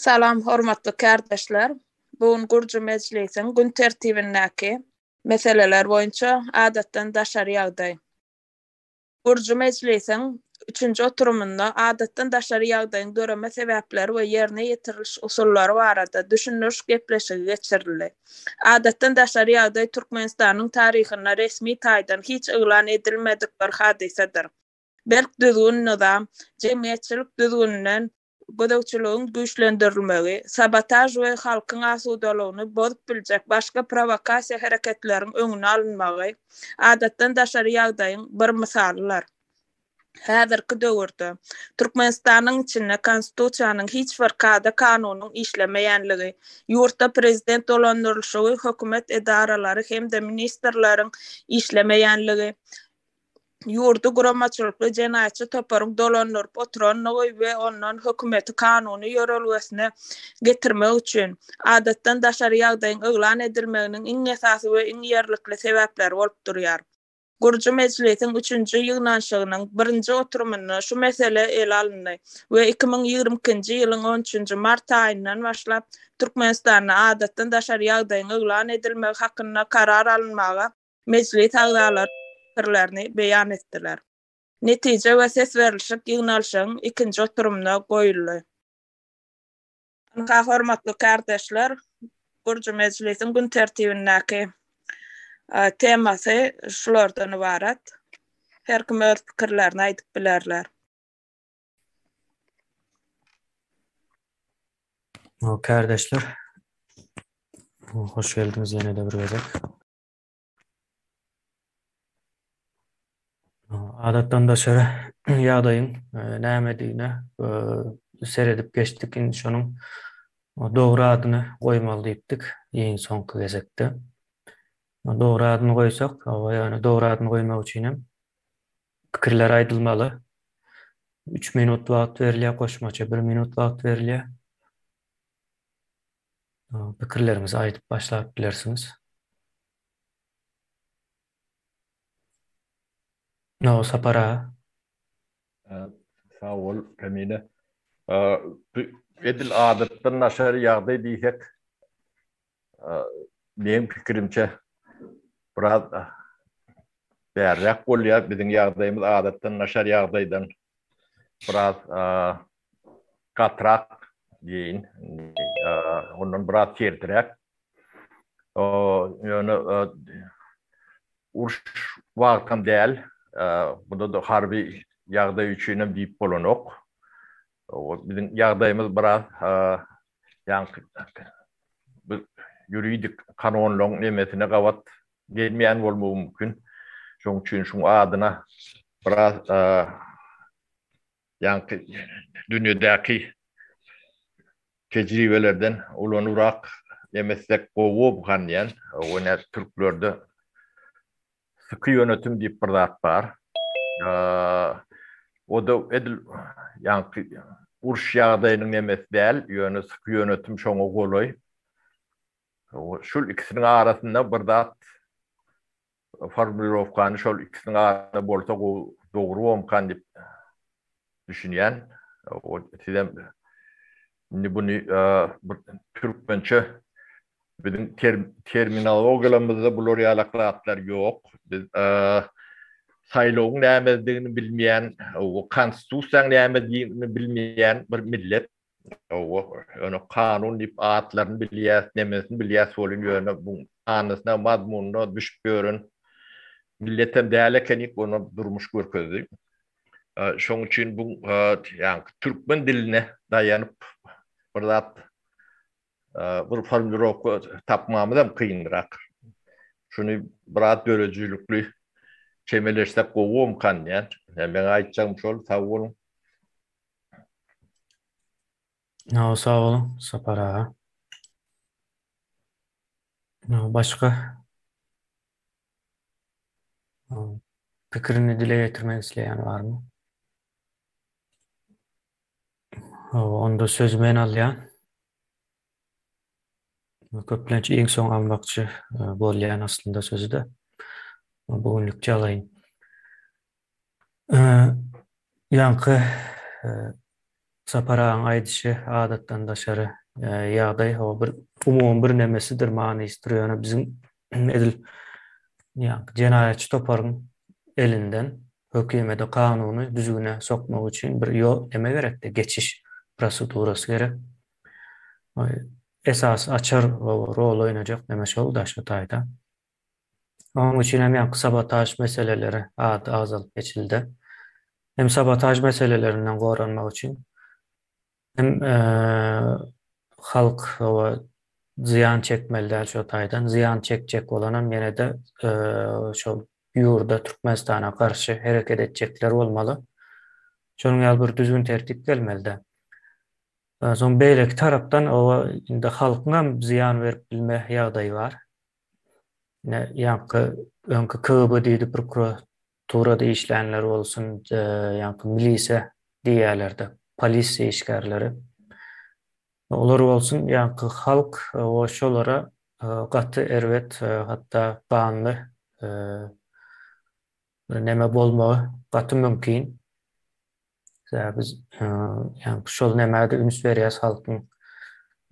Salam hormatly kärdeşler. Bu gün gurju mejlisiň gün tertibindäki meseleler boýunça adatdan daşary ýagdaý. Gurujy mejlisiň üçünji oturymynda Adatdan daşary ýagdaýyň döreme sebäpleri we ýerine ýetiriliş usullary barada düşündiriş gepleşigi geçirildi. Adatdan daşary ýagdaý Türkmenistanyň taryhynda resmi taýdan hiç yglan edilmedik bir hadysadyr. Berk düzgün-nyzam, jemgyýetçilik düzgüninden, gözegçiligiň güýçlendirilmegi, sabotaž we halkyň asudalygyny bozup biljek başga prowokasiýa hereketleriň öňüni alynmagy adatdan daşary ýagdaýyň bir mysalydyr. Häzirki döwürde Türkmenistanyň içinde Konstitusiýanyň hiç bir kada-kanunyň işlemeýänligi, ýurtda prezident dolandyrylyşygy, hökümet edaralary hem-de ministrleriň işlemeýänligi, ýurdy guramaçylykly jenaýatçy toparyň dolandyryp oturandygy we ondan hökümeti kanuny ýörelgesine getirmek üçin, adatdan daşary ýagdaýyň yglan edilmeginiň iň esasy we iň ýerlikli sebäpleri bolup durýar. Gurujy mejlisiň üçünji ýygnanyşygynyň birinji oturymynda şu mesele ele alyndy we iki müň ýigrimi ikinji ýylyň on üçünji mart aýyndan başlap Türkmenistanda adatdan daşary ýagdaýyň yglan edilmegi hakynda karar alynmaga Mejlis agzalary pikirlerini beýan etdiler. Netije we ses berlişik ýygnalşygyň ikinji oturymyna goýuldy. Ynha, hormatly kärdeşler, Gurjy mejlisiň gün tertibindäki temasy şulardan ybarat. Her kim öz pikirlerini aýdyp bilerler. Kärdeşler, hoş geldiňiz ýene-de bir gezek. Adatdan daşary ýagdaýyň e, nämedigine e, seredip geçdik. Indi şonuň dogry adyny goýmaly diýipdik iň soňky gezekde. Dogry adyny goýsak, ýagny dogry adyny goýmak üçin hem pikirler aýdylmaly. 3 minut wagt berilýär, goşmaça 1 minut wagt berilýär. pikirleriňizi aýdyp başlap bilersiňiz. Nowuz Sapar aga. Sag bol, Kamile. Bu edil adatdan daşary ýagdaý diýsek, meň pikirimçe, biraz bärräk bolýar. Biziň ýagdaýymyz adatdan daşary ýagdaýdan biraz gatyrak deýin, ondan biraz sertiräk. Ýöne uruş wagtam däl, bunda-da harby ýagdaý üçinem diýip bolanok. Biziň ýagdaýymyz biraz ýaňky ýuridik kanunlaryň nemesine gabat gelmeýän bolmagy mümkin. Şonuň üçin şuň adyna biraz Ýaňky dünýedäki tejribelerden ulanybrak emetsek gowob ganýan. Ýöne türklerde syky ýönetim diýip bir zat bar. O-da edil ýaňky uruş ýagdaýynyň nemesi däl, ýöne syky ýönetim şoňa golaý. Şul ikisiniň arasynda bir zat Formulirowkany şol ikisiniň arasynda bolsa gowy, dogry bolmkan diýip düşünýän. Sizem indi buny bir türkmençe biziň terminologiýamyzda bular ýalak zatlar ýok. Biz saýlawyň nämedigini bilmeýän, konstitusiýanyň nämedigini bilmeýän bir millet. Hawa, ýöne kanun diýip atlaryny bilýäs, nemesini bilýäs welin, ýöne bu manysyna, mazmunyna düşüp ýören milletem däl ekenik, ony durmuş görkezdi. Şonuň üçin bu ýaňky türkmen diline daýanyp bir zat Bir formulirowka tapmamyzam kynrak. Şuny biraz döredijilikli çemeleşsek gowumkan diýýän. Meň aýtjagym şol. Sag boluň. Hawa, sag boluň, Sapar aga. Başga pikirini dile getirmek isleýän barmy? Hawa, onda sözi men alýan. Köplenç iň soň almakçy e, bolýan aslynda sözi-de. Bu günlükçe alaýyn. Ýaňky e, Sapar agaň aýdyşy adatdan daşary e, ýagdaý, hawa bir umumy bir nemesidir, manysydyr, ýöne biziň edil ýaňky jenaýatçy toparyň elinden hökümede kanuny düzgüne sokmak üçin bir ýol näme gerekde geçiş prosedurasy gerek esasy açar rol oýnajak näme şol daşky taýda onuň üçin hem ýaňky sabotaž meseleleri ady agzalyp geçildi hem sabotaž meselelerinden goranmak üçin Hem halk oba zyýan çekmeli däl şo taýdan. Zyýan çekjek bolanam ýene-de şol ýurda, Türkmenistana garşy hereket etjekler bolmaly. Şonuň ýaly bir düzgün-tertip gelmeli-dä. Soň beýleki tarapdan oba indi halkyňam zyýan berip bilme ýagdaýy bar. Ýaňky öňki KGB diýdi prokuratura Turada işlänler bolsun, ýaňky milise diýýärlerdi, polisiýa işgärleri. Olar bolsun, ýaňky halk o şolara gaty erbet, hatda ganly bir neme bolmagy gaty mümkin. Sebäbi biz ýa-da şol nämädir üns berýäs halkyň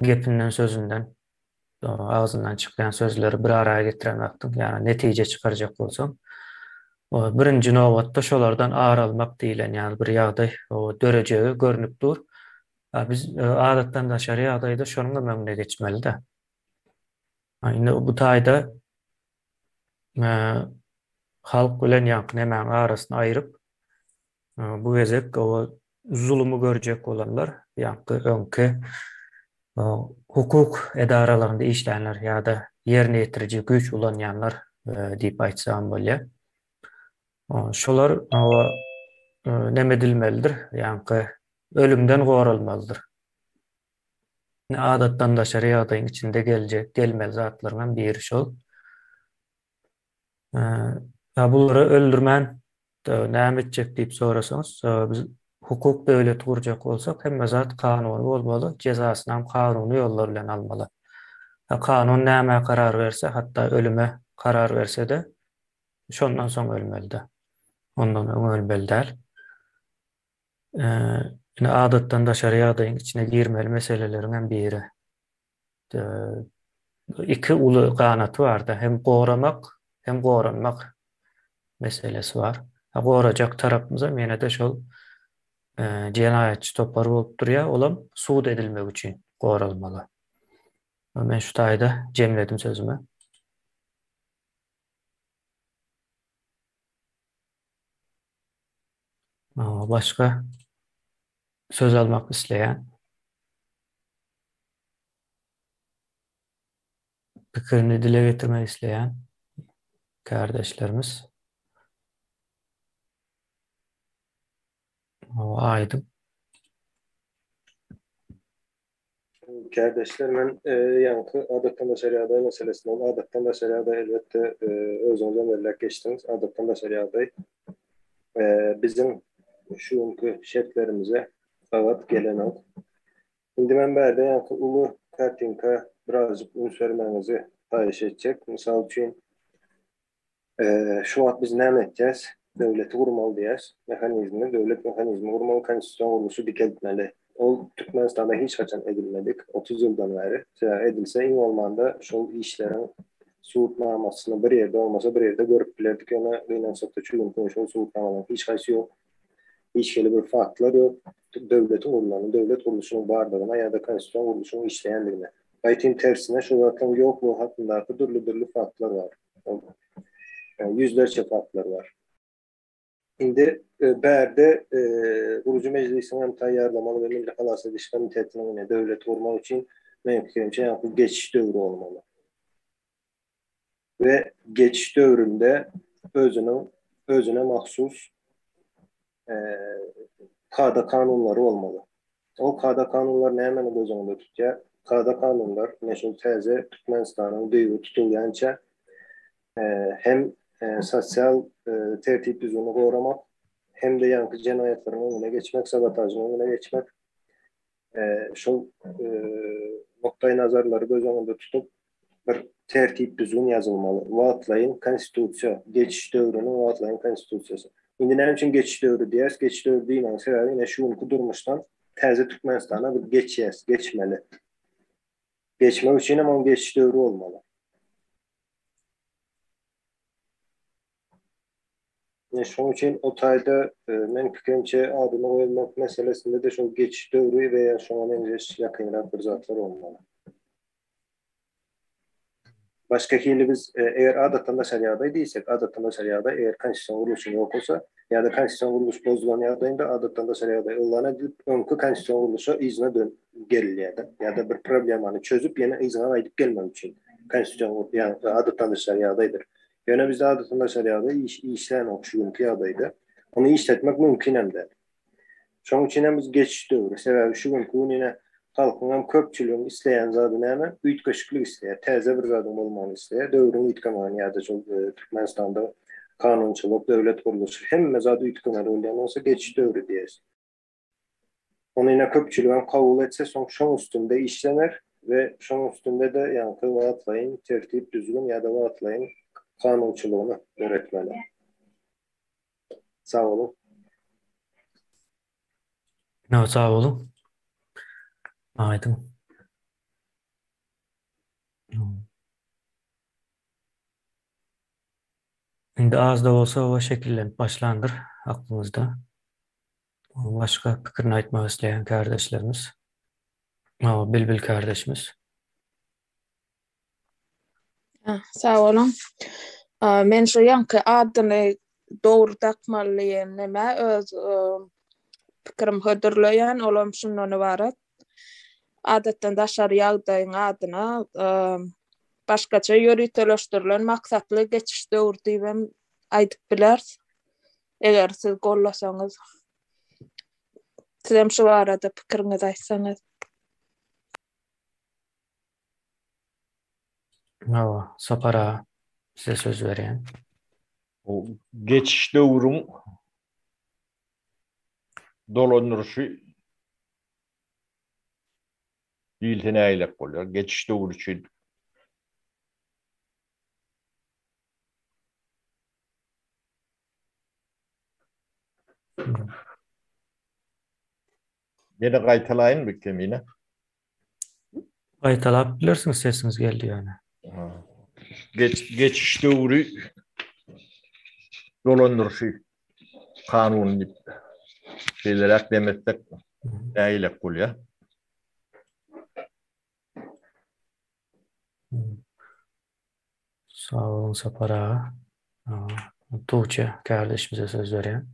gepinden, sözünden, agzyndan çykýan sözleri bir ara getiren wagtyň, ýa-da netije çykarjak bolsaň, birinji nobatda şolardan ar almak diýlen ýaly bir ýagdaý dörejegi görnüp dur. Biz adatdan daşary ýagdaýda şonuň hem öňüne geçmeli-dä. Indi bu taýda halk bilen ýaňky nämäň arasyny aýryp, Bu gezek o zulumy görjek bolanlar, ýa-da öňki hukuk edaralarynda işlänler ýa-da ýerine ýetiriji güýç ulanýanlar diýip aýtsam bolýar. Şolar näme edilmelidir? Ýaňky ölümden goralmalydyr. Adatdan daşary ýagdaýyň içinde geljek, gelmeli zatlaryň hem biri şol. Ýa bulary öldürmän näme etjek diýip sorasaňyz, biz hukuk döwleti gurjak bolsak, hemme zat kanuny bolmaly, jezasynam kanuny ýollar bilen almaly. Kanun nämä karar berse, hatda ölüme karar berse-de, şondan soň ölmeli-dä. Ondan öň ölmeli däl. Indi adatdan daşary ýagdaýyň içine girmeli meseleleriňem biri. iki uly ganaty barda hem goramak hem goranmak meselesi bar. Ha gorajak tarapymyzam ýene-de şol jenaýatçy topar bolup durýar, olam sud edilmek üçin goralmaly. Men şu taýda jemledim sözümi. Başga söz almak isleýän? Pikirini dile getirmek isleýän kärdeşlerimiz? Aýdyň. Kärdeşler men ýaňky adatdan daşary ýagdaý meselesini ol adatdan daşary ýagdaý elbetde özüňizem belläp geçdiňiz adatdan daşary ýagdaý biziň şu günki şertlerimize gabat gelenok. Indi men bärde ýaňky uly kartinka birazjyk üns bermegiňizi haýyş etjek. Mysal üçin Şu wagt biz näme etýäs? Döwleti gurmaly diýýäs. Mehanizmi, döwlet mehanizmi gurmaly, konstitusion gurluşy dikeltmeli. Ol Türkmenistanda hiç haçan edilmedik, otuz ýyldan bäri. Sebäbi edilse, iň bolmanda şol işleriň subutnamasyny bir ýerde, bolmasa bir ýerde görüp bilerdik, ýöne gynansak-da, şu günküňe şol subutnamalaryň hiç haýsy ýok. Hiç hili bir faktlar ýok. Döwletiň gurnagynyň, döwlet gurluşynyň bardygyna ýa-da konstitusion gurluşyň işleýändigine. Aýtym tersine, şu zatlaryň ýoklugy hakyndaky dürli-dürli faktlar bar. Ol ýüzlerçe faktlar bar. Indi bärde gurujy mejlisiň hem taýýarlamaly we Milli halas ediş komitetiniň ine döwleti gurmak üçin, meň pikirimçe, ýaňky geçiş döwri bolmaly. we geçiş döwründe özüniň özüne mahsus kada-kanunlary bolmaly. Ol kada-kanunlar nämäni göz öňünde tutýar? Kada-kanunlar ine şol täze Türkmenistanyň düýbi tutulýança hem sosial tertip-düzgüni goramak, hem-de ýaňky jenaýatlaryň öňüne geçmek, sabotažyň öňüne geçmek, şol nukdaýnazarlary göz öňünde tutup, bir tertip-düzgün ýazylmaly. Wagtlaýyn Konstitusiýa, geçiş döwrüniň wagtlaýyn Konstitusiýasy. Indi näme üçin geçiş döwri diýýäris? Geçiş döwri diýmegiň sebäbi ine şu günki durmuşdan täze Türkmenistana biz geçýäs, geçmeli. Geçmek üçinem oň geçiş döwri bolmaly. Ine, şonuň üçin o taýda, meniň pikirimçe, adyny goýmak meselesinde-de şol geçiş döwri we ýa şoňa meňzeş ýakynrak bir zatlar bolmaly. Başga hili biz, eger adatdan daşary ýagdaý diýsek, adatdan daşary ýagdaý, eger konstitusion gurluşyň ýok bolsa ýa-da konstitusion gurluş bozulan ýagdaýynda adatdan daşary ýagdaý yglan edilip, öňki konstitusion gurluşa yzyna dönüp gelilýär-de. Ýa-da bir problemany çözüp, ýene yzyna gaýdyp gelmek üçin konstitusion, ýa adatdan daşary ýagdaýdyr, Ýöne bizde adatylaşar ýagdaý iş işlänok şu günki ýagdaýda. Ony işletmek mümkin hem däl. Şonuň üçin hem biz geçiş döwri. Sebäbi şu günki gün ine halkyň hem köpçüligiň isleýän zady näme? Üýtgeşiklik isleýär. Täze bir zadyň bolmagyny isleýär. Döwrüň üýtgemegini ýa-da şol Türkmenistanda kanunçylyk, döwlet gurluşy hemme zat üýtgemeli bolýan bolsa geçiş döwri diýersiň. Ony ine köpçüligem kabul etse soň şoň üstünde işlener we şoň üstünde-de ýaňky wagtlaýyn tertip-düzgün ýa-da wagtlaýyn kanunçylygyny döretmeli. Sag boluň. Ýok, sag boluň. Aýdyň. Indi az-da bolsa oba şekillenip başlandyr aklymyzda. Başga pikirini aýtmak isleýän kärdeşlerimiz. Hawa, Bilbil kärdeşimiz. Sag boluň. Men şu ýaňky adyny dogry dakmaly diýen nämä öz pikirim hödürleýän, olam şundan ybarat. adatdan daşary ýagdaýyň adyna başgaça ýöriteleşdirilen maksatly geçiş döwri diýip hem aýdyp bileris. Eger siz gollasaňyz, siz hem şu barada pikiriňizi aýtsaňyz. Hawa, Sapar aga, size söz berýän. Bu geçiş döwrüň dolandyryşy Diýilse nägilek bolýar. Geçiş döwri üçin. Ýene gaýtalaýynmy Kemine? Gaýtalap bilersiňiz sesiňiz geldi ýöne. Geç geçiş döwri dolandyryşy kanuny diýip şeýleräk dem etsek nägilek bolýa. Sag boluň Sapar aga. Tuwçe kärdeşimize söz berýän.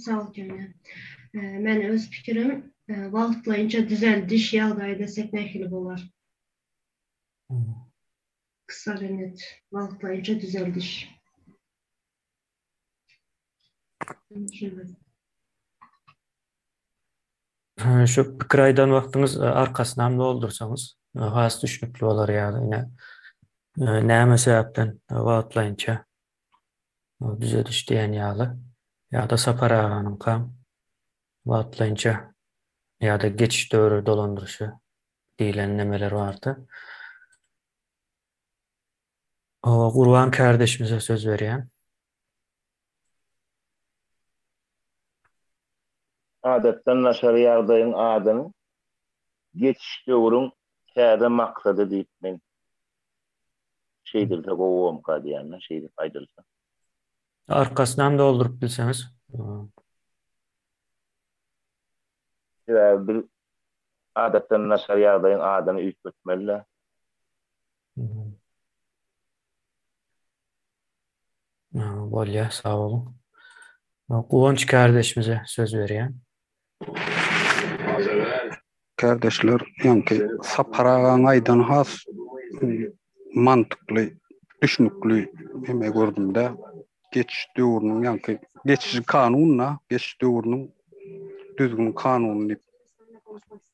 Sag ol jana. Men öz pikirim wagtlaýynça düzeldiş ýagdaýy desek nähili bolar? Kysalenet, wagtlaýynça düzeldiş. Şu pikir aýdan wagtyňyz arkasyny hem doldursaňyz has düşnükli bolar ýaly. Näme sebäpden wagtlaýynça düzediş diýen ýaly ýa-da Sapar aganyňka wagtlaýynça ýa-da geçiş döwri dolandyryşy diýlen nemeler bardy. Owa, Gurban kärdeşimize söz berýän. Adatdan daşary ýagdaýyň adyny geçiş döwrüň täze maksady diýip men Şeýdilse gowomka diýýän-de, şeýdip aýdylsa. Arkasynam dolduryp bilseňiz. Sebäbi biz adatdan naçar ýagdaýyň adyny üýtgetmeli-dä. Bolýar, sag boluň. Guwanç kärdeşimize söz berýän. Kardeşler ýoňky Sapar agaň aýdan has mantykly düşnükli ýeme gördümde geçiş döwrüniň ýaňky geçiş kanunda geçiş döwrüniň düzgün kanuny diýip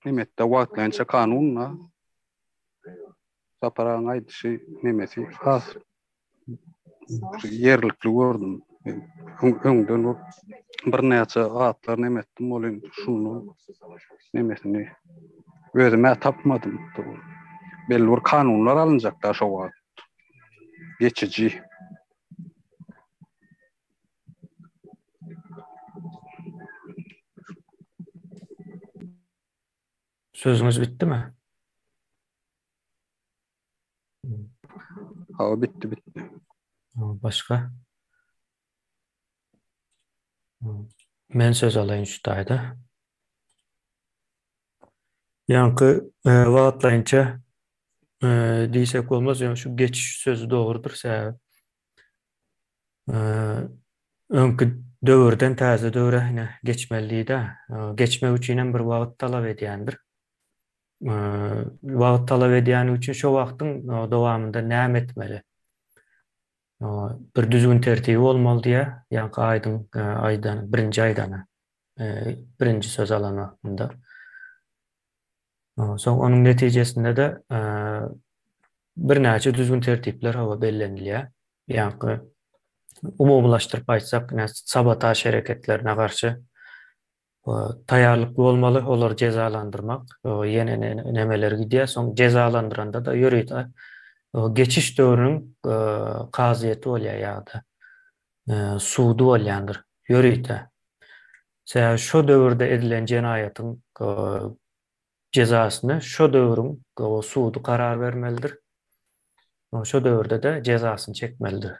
nemetde wagtlaýynça kanunda Sapar agaň aýdyşy nemesi has ýerlikli gördüm. Öňden bu birnäçe zatlar näme etdim, ol indi şunu nämesini özüme tapmadym. Belli bir kanunlar alynjak da şu wagt. Geçiji. Sözüňiz bitdimi? Hawa bitdi bitdi. Başga? Men söz alaýyn şu taýda. Ýaňky e, wagtlaýynça e, diýsek bolmaz, ýöne şu geçiş sözi dogrudyr sebäbi. E, öňki döwürden täze döwre geçmeli diýdi. Geçmek üçin hem bir wagt talap edýändir. wagt talap edýäni üçin şo wagtyň dowamynda näme etmeli? Bir düzgün tertibi bolmaly diýä, ýaňky aýdyň aýdan birinji aýdana, birinji söz alan wagtynda. Soň onuň netijesinde-de birnäçe düzgün tertipler hawa bellenilýär. Ýaňky umumylaşdyryp aýtsak, sabotaž hereketlerine garşy Taýýarlykly bolmaly olary jezalandyrmak ýene nemeler gidýär soň jezalandyrandada ýörite geçiş döwrüniň kazyýeti bolýar ýada sudy bolýandyr ýörite sebäbi şo döwürde edilen jenaýatyň jezasyny şo döwrüň sudy karar bermelidir şo döwürdede jezasyny çekmelidir.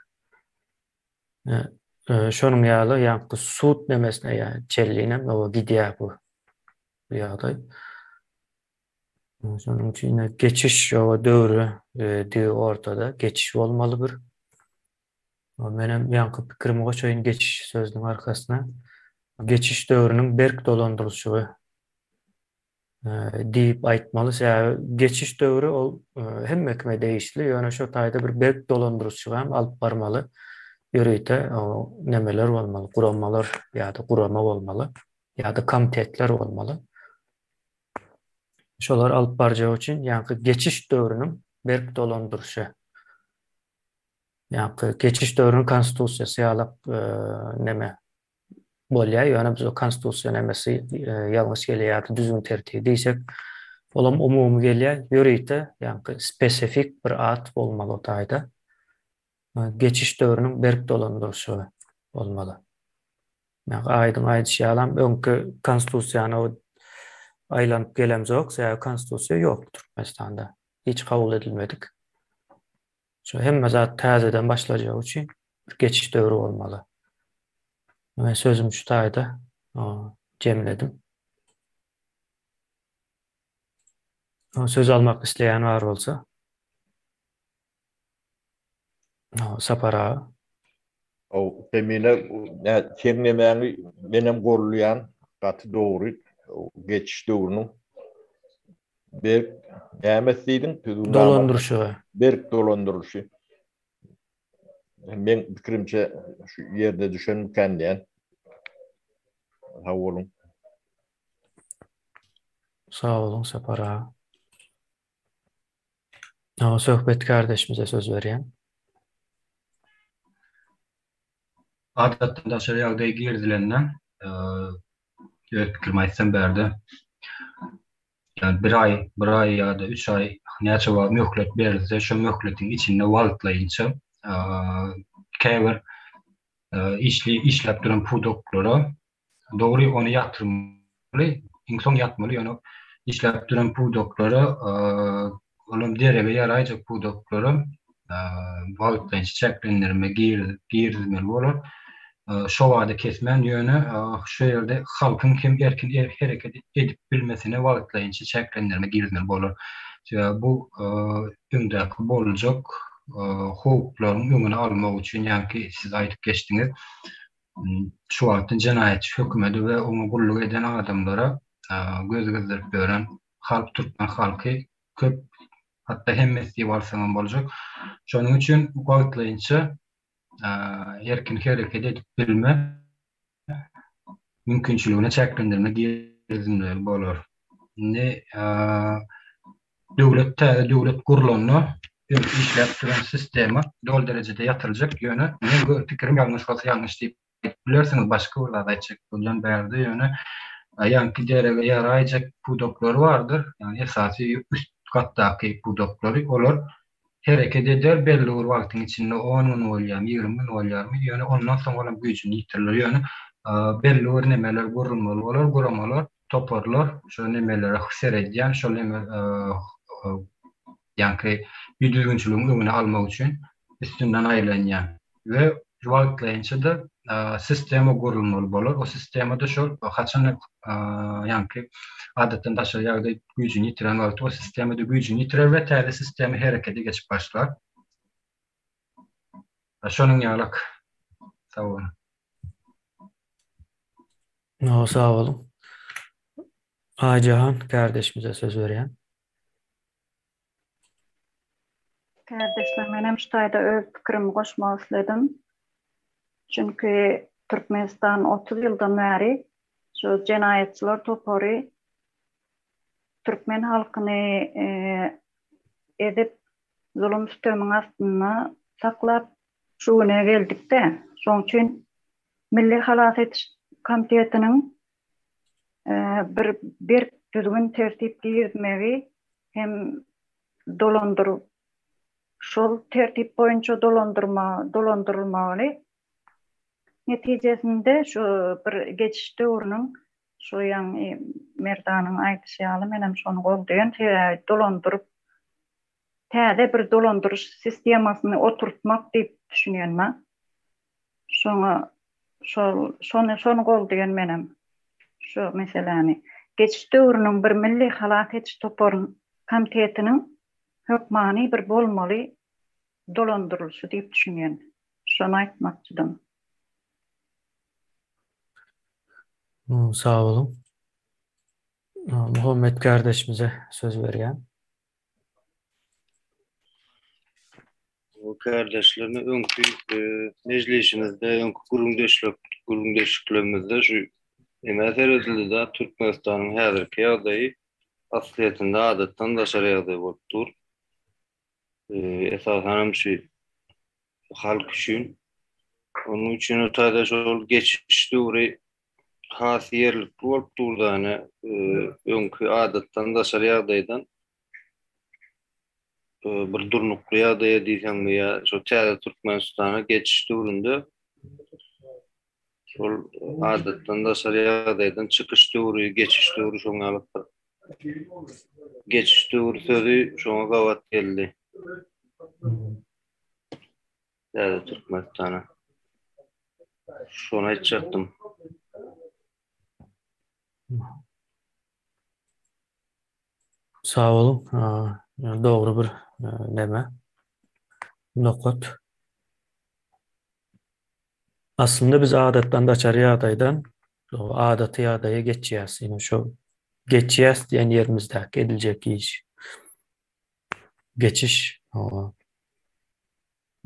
Şonuň ýaly ýaňky sud nemesine ýa çellinem oba gidýär bu ýagdaý. Şonuň üçin geçiş oba döwri digi ortada geçiş bolmaly bir. Menem ýaňky pikirimi goşaýyn geçiş sözüniň arkasyna. Geçiş döwrüniň berk dolandyrylyşygy. diýip aýtmaly, sebäbi geçiş döwri ol hemme kime degişli, ýöne şo taýda bir berk dolandyryşyk hem alyp barmaly, ýörite nemeler bolmaly, guramalar ýa-da gurama bolmaly, ýa-da komitetler bolmaly. Şolary alyp barjak üçin ýaňky geçiş döwrüniň berk dolandyryşy, ýaňky geçiş döwrüniň konstitusiýasy ýalak neme, bolýar, ýöne bize konstitusiýa nämesi ýalňyş gelýär ýa-da düzgün tertibi diýsek, olam umumy gelýär, ýörite, ýagny spesifik bir at bolmaly o taýda. Geçiş döwrüniň berk dolandyryşy bolmaly. Ýagny aýdyň aýdyşy ýalam, öňki konstitusiýany aýlanyp gelemzok, sebäbi konstitusiýa ýokdur Türkmenistanda, hiç kabul edilmedik. Şu hemme zat täzeden başlajagy üçin bir geçiş döwri bolmaly. Men sözüm şu taýda jemledim. Söz almak isleýän bar bolsa. Sapar aga. How Jemile seň nemäňi menem golluýan gaty dogry geçiş döwrüniň berk nämes diýdiň tüzüw dolandyryşy berk dolandyryşy men pikirimçe şu ýerde düşenmikän diýen sag boluň. Sag boluň Sapar aga. Awa söhbet kardeşimize söz berýän. Adatdan daşary ýagdaý girdilende öz pikirimi aýtsam bärde ýa bir aý, bir aý ýa-da üç aý näçe wagt möhlet berilse şo möhletiň içinde wagtlaýynça käbir işli işläp duran pudaklara Dogry ony ýatyrmaly, iň soň ýatmaly, ýöne işläp duran pudaklara, olam derege ýaraýjak pudaklara wagtlaýynça çäklendirme girizmeli bolar. Şo bada kesmän, ýöne şu ýerde halkyň hem erkin hereket edip bilmesine wagtlaýynça çäklendirme girizmeli bolar. Sebäbi bu öňdäki boljak howplaryň öňüni almak üçin, ýagny siz aýdyp geçdiňiz, şu wagtyň jenaýatçy hökümedi we oňa gulluk eden adamlara göz gezdirip ýören halk türkmen halky köp, hatda hemmesi diýip alsaňam boljak. Şonuň üçin wagtlaýynça erkin hereket edip bilme mümkinçiligine çäklendirme girizilmeli bolar. Indi Döwlet täze döwlet gurlanda öň işläp duran sistema doly derejede ýatyljak ýöne men gör pikirim ýalňyş bolsa ýalňyş diýip aýdyp bilersiňiz başga bir zat aýtjak bolýan bärde ýöne aýanki derege ýaraýjak pudaklary bardyr ýagny esasy üst gatdaky pudaklary olar hereket eder, belli bir wagtyň içinde, on gün bolýarmy, ýigrimi gün bolýarmy, ýöne ondan soň olam güýjüni ýitirler, ýöne belli bir nemeler gurulmaly bolar, guramalar, toparlar şo nemelere seredýän, şol neme ýaňky düzgünçiligiň öňüni almak üçin üstünden aýlanýan we wagtlaýynça-da sistema gurulmaly bolar. O sistemada şol haçan ýaňky adatdan daşary ýagdaý güýjüni ýitiren wagty o sistemada güýjüni ýitirer we täze sistema herekete geçip başlar. Şonuň ýalyk. Sag boluň. No, sag boluň. Aýjahan kärdeşimize söz berýän. Kärdeşler menem şu taýda öz pikirimi goşmak isledim. Çünki Türkmenistan 30 ýyldan bäri şu jenaýatçylar topary türkmen halkyny ezip zulum sütemiň astynda saklap şu güne geldikde şoň üçin Milli halas ediş komitetiniň bir berk düzgün-tertip girizmegi hem dolandyryp, şol tertip boýunça dolandyrma dolandyrylmagyny netijesinde şu bir geçiş döwrüniň şu ýaňy Merdanyň aýdyşy ýaly menem şony goldaýan sebäbi dolandyryp täze bir dolandyryş sistemasyny oturtmak diýip düşünýän mä. Şoňa şol şony şony goldaýan menem şu meseläni. Geçiş döwrüniň bir milli halas ediş toparyn komtetiniň hökmany bir bolmaly dolandyrylyşy diýip düşünýän. Şony aýtmakçydym. Sag boluň. Muhammet kardeşimize söz berýän. Kärdeşlerine öňki e, mejlisimizde, öňki gürrüňdeşlik, gürrüňdeşliklerimizde şu emä seredildi-de, Türkmenistanyň häzirki ýagdaýy aslyýetinde adatdan daşary ýagdaý bolup dur. E, esasan hem şu halk üçin. Onuň üçin o taýda şol geçiş döwri has ýerlikli bolup durdany, öňki adatdan daşary ýagdaýdan bir durnukly ýagdaýa diýseňmi ýa şo täze Türkmenistana geçiş döwründe şol adatdan daşary ýagdaýdan çykyş döwri, geçiş döwri şoň ýalydyr. Geçiş döwri sözi şoňa gabat geldi. Täze Türkmenistana. Şony aýtjakdym. Sag boluň. Dogry bir näme? Nokat. Aslynda biz adatdan daçary ýagdaýdan adaty ýagdaýa geçýäs. Ýöne şu geçýäs diýen ýerimizde ediljek iş. geçiş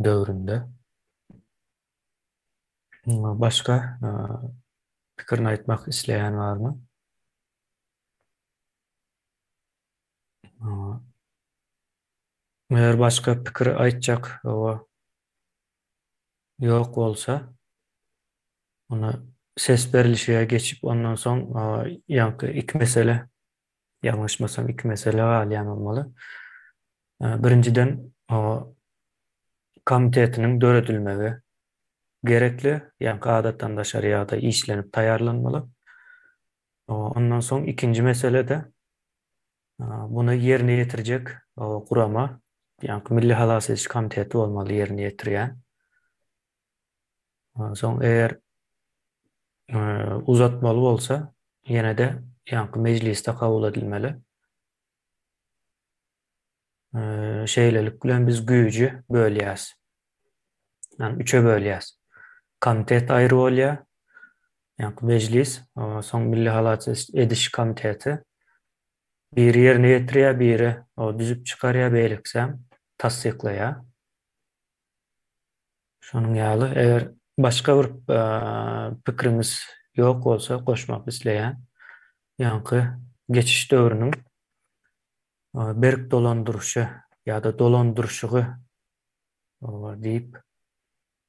döwründe başga pikirini aýtmak isleýän barmy? Eger başga pikir aýtjak ýok bolsa, onda ses berlişige geçip, ondan soň ýaňky iki mesele Ýalňyşmasam iki mesele galýan bolmaly. Birinjiden komitetiniň döredilmegi gerekli, ýaňky adatdan daşary ýagdaý işlenip taýýarlanmaly. Ondan soň ikinji mesele-de muny ýerine ýetirjek gurama, ýaňky milli halas ediş komiteti bolmaly ýerine ýetirýän. Onsoň eger uzatmaly bolsa, ýene-de ýaňky mejlisde kabul edilmeli. Şeýlelik bilen biz güýji bölýäs. Ýani üçe bölýäs. Komitet aýry bolýar. Ýaňky mejlis, soň milli halat ediş komiteti biri ýerine ýetirýär, biri düzüp çykarýar, beýlekisem tassyklaýar. Şonuň ýaly, eger başga bir pikiriňiz ýok bolsa, goşmak isleýän ýaňky geçiş döwrüniň berk dolandyryşy ýa-da dolandyryşygy diýip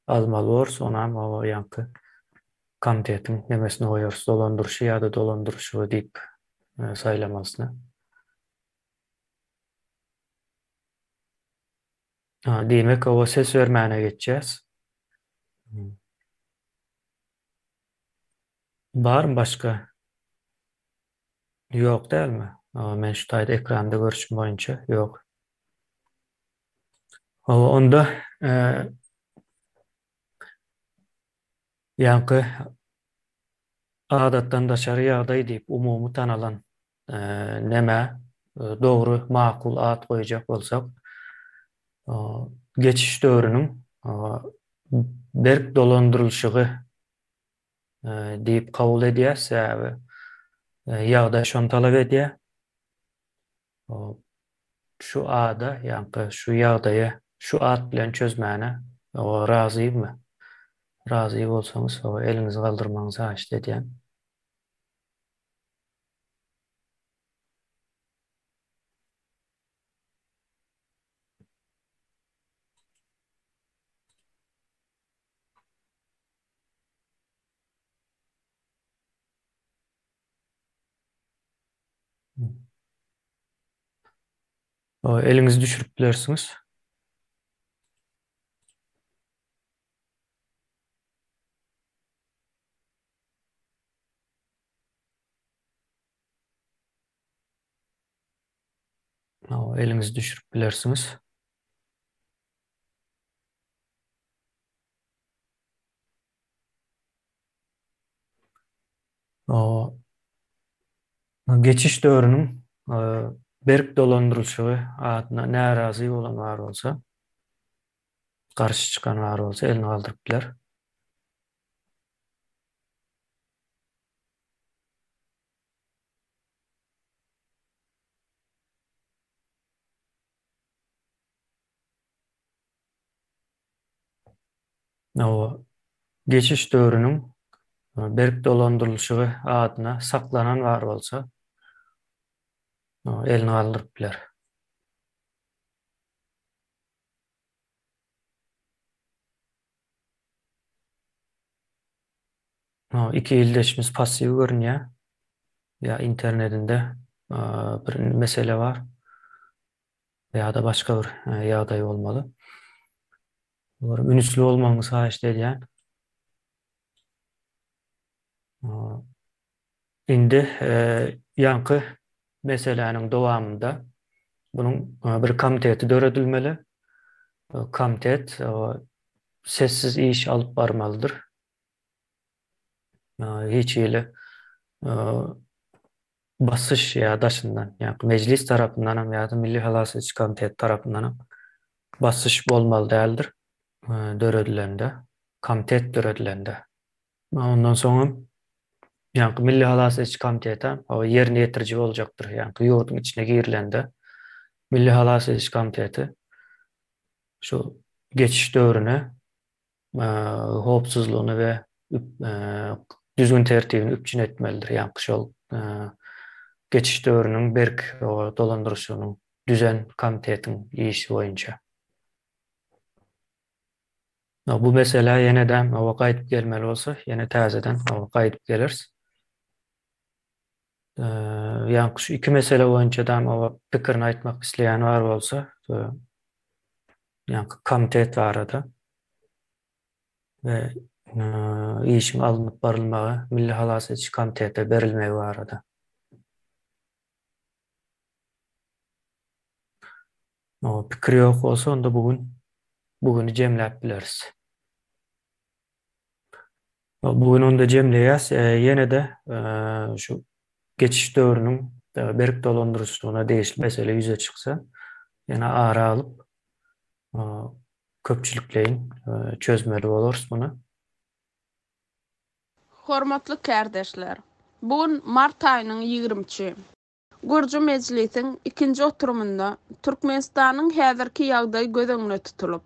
almaly borys, onam ýaňky komitetiň nemesine goýarys, dolandyryşy ýa-da dolandyryşygy diýip saýlamalysyna. Ha, diýmek, oba ses bermäne geçýäs. Barmy başga? Ýok dälmi? Aa, men şu taýda ekranda görşüm boýunça ýok. Hawa, onda e, Ýaňky adatdan daşary ýagdaý diýip umumy tanalan neme? Dogry, makul at goýjak bolsak, geçiş döwrüniň berk dolandyrylyşygy diýip kabul edýär, sebäbi ýagdaý şony talap edýär. Şu ada, ýaňky şu ýagdaýy şu at bilen çözmäne razymy? Razy bolsaňyz, eliňizi galdyrmagyňyzy haýyşt edýän. Eliňizi düşürip bilersiňiz. Eliňizi düşürip bilersiňiz. Geçiş döwrüniň berk dolandyrylyşygy adyna närazy bolan bar bolsa, garşy çykan bar bolsa elini galdyryp biler. Hawa, geçiş döwrüniň berk dolandyrylyşygy adyna saklanan bar bolsa, elini galdyryp biler. Hawa, iki ildeşimiz passiw görünýär. Ýa internetinde bir mesele bar. Ýa-da başga bir ýagdaý bolmaly. Olara ünüsli bolmagyňyzy haýyşt edýän. Indi ýaňky meseläniň dowamynda bunuň bir komiteti döredilmeli. Komitet sessiz iş alyp barmalydyr. Hiç hili basyş ýa daşyndan, ýa-da Mejlis tarapyndanam ýa-da Milli halas ediş komiteti tarapyndanam basyş bolmaly däldir, döredilende, komitet döredilende. Ondan soňam, ýa-da Milli halas ediş komiteti ýerine ýetiriji boljakdyr, ýa-da ýurduň içine girilende, Milli halas ediş komiteti şu geçiş döwrüne howpsuzlygyny we düzgün-tertibini üpjün etmelidir, ýa-da şol geçiş döwrüniň berk dolandyryşygynyň düzen komitetiň işi boýunça. Bu meselä ýene-de gaýdyp gelmeli bolsa, ýene täzeden gaýdyp geleris. Ýaňky şu iki mesele boýunça dam oba pikirini aýtmak isleýän bar bolsa, ýaňky komitet barada we işiň alnyp barylmagy Milli halas ediş komitetine berilmegi barada. Pikir ýok bolsa, onda bu gün bu güni jemläp bileris. Bu gün onda jemleýäs. Ýene-de şu geçiş döwrüniň berk dolandyryjylygyna degişli mesele ýüze çyksa, ýene ara alyp, köpçülikleýin çözmeli bolarys muny. Hormatly kärdeşler! Bu gün mart aýynyň ýigrimi üçi. Gurjy mejlisiň ikinji oturymynda Türkmenistanyň häzirki ýagdaýy göz öňüne tutulyp,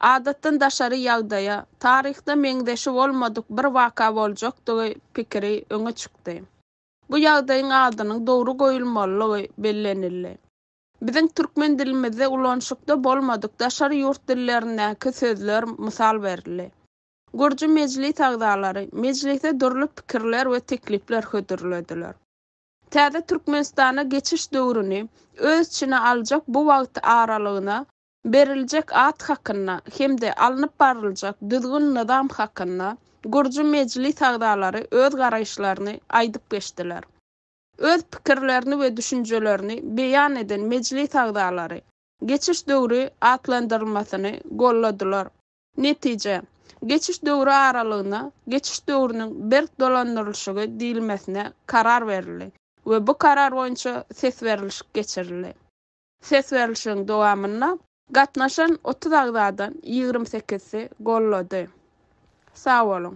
Adatdan daşary ýagdaýa, taryhda meňzeşi bolmadyk bir waka boljakdygy pikiri öňe çykdy. Bu ýagdaýyň adynyň dogry goýulmalylygy bellenildi. Biziň türkmen dilimizde ulanyşykda bolmadyk daşary ýurt dillerindäki sözler mysal berildi. Gürji mejlis agzalary mejlise dürli pikirler we teklipler hödürlediler. Täze Türkmenistana geçiş döwrüni öz içine aljak bu wagt aralygyna beriljek at hakynda hem-de alnyp barlyjak düzgün-nyzam hakynda gurjy mejlis agzalary öz garaýyşlaryny aýdyp geçdiler. Öz pikirlerini we düşünjelerini beýan eden mejlis agzalary Geçiş döwri atlandyrylmasyny golladylar. Netije, geçiş döwri aralygyna geçiş döwrüniň berk dolandyrylyşygy diýilmesine karar berildi we bu karar boýunça ses berilişik geçirildi. Ses berlişigiň dowamynda gatnaşan otuz agzadan ýigrimi sekizisi gollady. Sag boluň!